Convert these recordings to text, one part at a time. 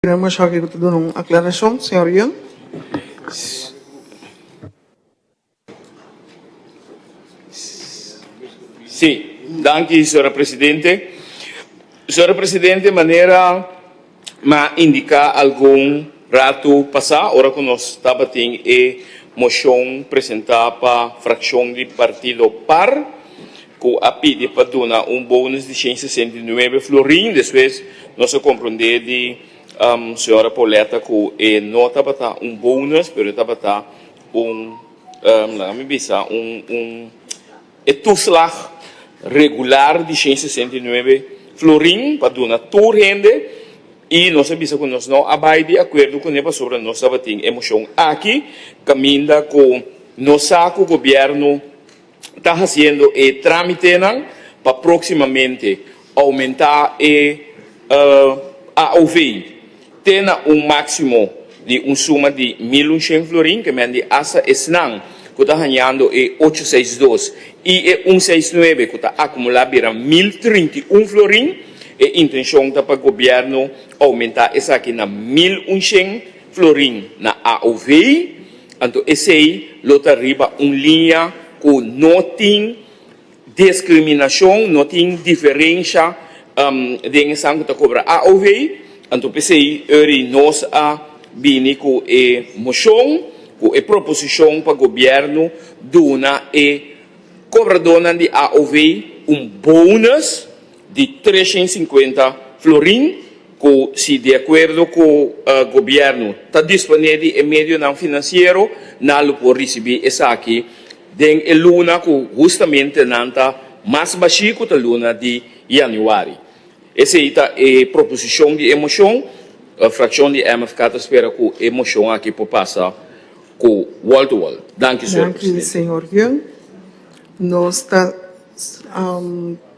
Queremos hopi cu ta duna un aclaracion, señor Young. Si, danki señora presidente. Señora presidente, manera mi a indica algun ratu pasa, ora cu nos tabatin e mocion presenta pa fraccion di Partido Par, ku a pidi pa duna un bonus di shen sesenta i nuebe florin, despues nos a kompronde di señora Pauletta ku e no tabata un bonus pero e tabata un, laga mi bisa, un e tuslag regular di shen sesenta i nuebe florin pa duna tur hende i nos a bisa ku nos no a bai di akuerdo kuné pasobra nos tabatin e moshon aki kaminda ku nos sa ku gobièrnu ta hasiendo e trámitenan pa próksimamente oumentá e AOV te na un máksimo di un suma di mil unshen florin, ke mende asta esnan ku ta hañando e ocho seis dos i e un seis nuebe ku ta akumulá bira mil trinta i un florin. E intenshon ta pa gobièrnu oumentá esaki na mil unshen Florin na AOV, anto esei lo ta riba un liña ku no tin diskriminashon, no tin diferensha den esan ku ta kobra AOV. Anto p'esei ori nos a bini ku e moshon, ku e proposishon pa gobièrnu duna e kobradónan di AOV un bónus, di tres shen sinkuenta florin ku si di akuerdo ku gobièrnu ta disponé di e medionan finansiero nan lo por risibí esaki den e luna ku hustamente nan ta mas bashí ku ta luna di yanüari. Esei ta e proposishon di e moshon. Frakshon di MFK ta spera ku e moshon akí por pasa ku wòl-tu-wòl. Danki, señor presidente. Danki, señor Hyun. Nos ta.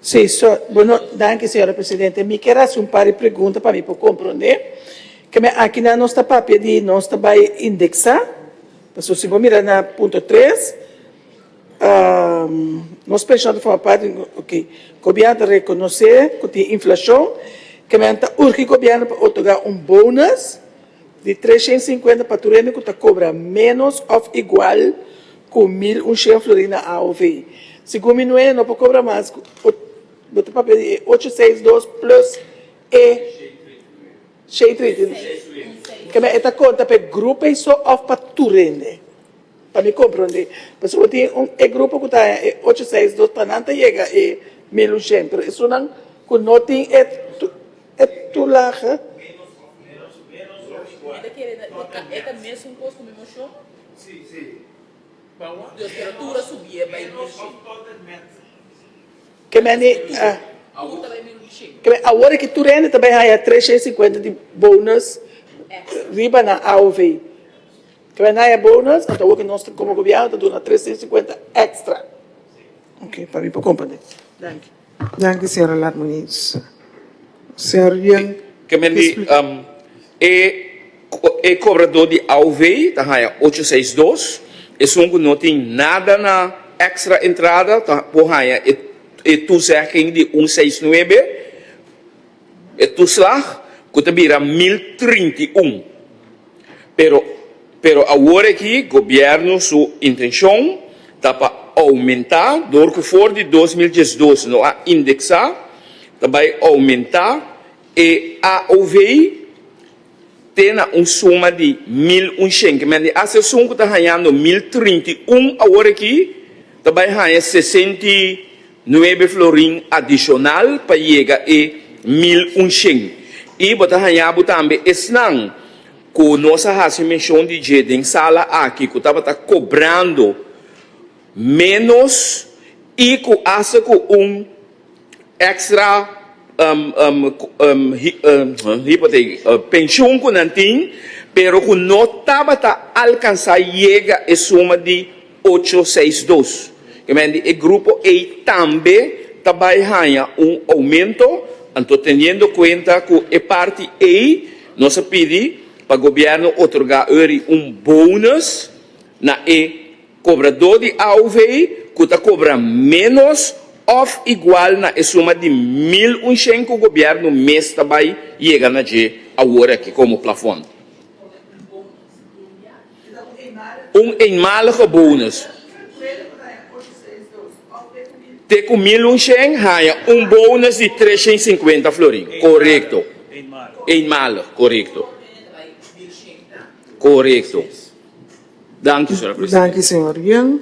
Sí, so, bo no, danki señora presidente. Mi ke rasi un par di pregunta pa mi por komprondé. Keme aki nan nos ta papia di nos ta bai indeksá, pasobra si bo mira na punto tres, nos penshon ta forma parti, ok, gobièrnu ta rekonosé ku tin inflashon, keme nan ta urgi gobièrnu pa otorgá un bonus, di tres shen sinkuenta pa tur hende ku ta kobra ménos òf igual ku mil un shen florin na AOV. Segun mi nueño no por kobra mas ku bo ta papia di e ocho seis dos plùs e shei treinta i nueve kende e ta konta pa e grupo ei so òf pa tur hende. Pa mi komprondé, pasobra tin un e grupo ku ta haña e ocho seis dos pa nan ta yega e mil ushent, pero esunnan ku no tin e tulaha, kemende awor aki tur hende ta bai haña tres shei sikuenta di bonus riba nan AOV. Clanaya Bonus, anta awor cu nos como Gobierno ta duna trescientos cincuenta extra. Ok, pa mi por comprende. Danki. Danki, señora Lat Muniz. Señor Yuan, Ke men di um, e, co- e cobrador di AOV ta haya 862. Esun cu no tin nada na extra entrada ta por haya e, e toezegging di 169. E toeslag cu ta bira mil trinta i un, pero pero awor aki gobierno su intencion ta pa aumenta door cu for di dos mil diesdos no a indexa ta bay aumenta e AOV. te na un suma di mil un shenki men di as esun ku ta hañando mil trinta i un awor aki ta bai haña sesenta i nuebe florin adishonal pa yega e mil un shen. I bo ta haña bo tambe esnan ku nos a hasi menshon di dje den sala aki ku tabata kobrando ménos i ku asta ku un extra penshun ku nan tin pero ku no tabata alkansá yega e suma di ocho seis dos. Ke men di e grupo ei tambe ta bai haña un oumento, anto teniendo kuenta ku e parti ei nos a pidi pa gobièrnu otorgá ori un bonus na e. Kobradó di AUV ku ta kobra ménos òf igual na e suma di mil un shen ku gobièrnu mes ta bai yega na dje awor aki komo plafon. Un eenmalige bonus. Te ku mil un shen haña un bonus di tres shen sinkuenta florin. Korekto. Eenmalig. Korekto. Korekto. Danki señor presidente. Danki señor Jan,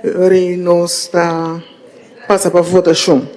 rei nos ta pasa pa votacion.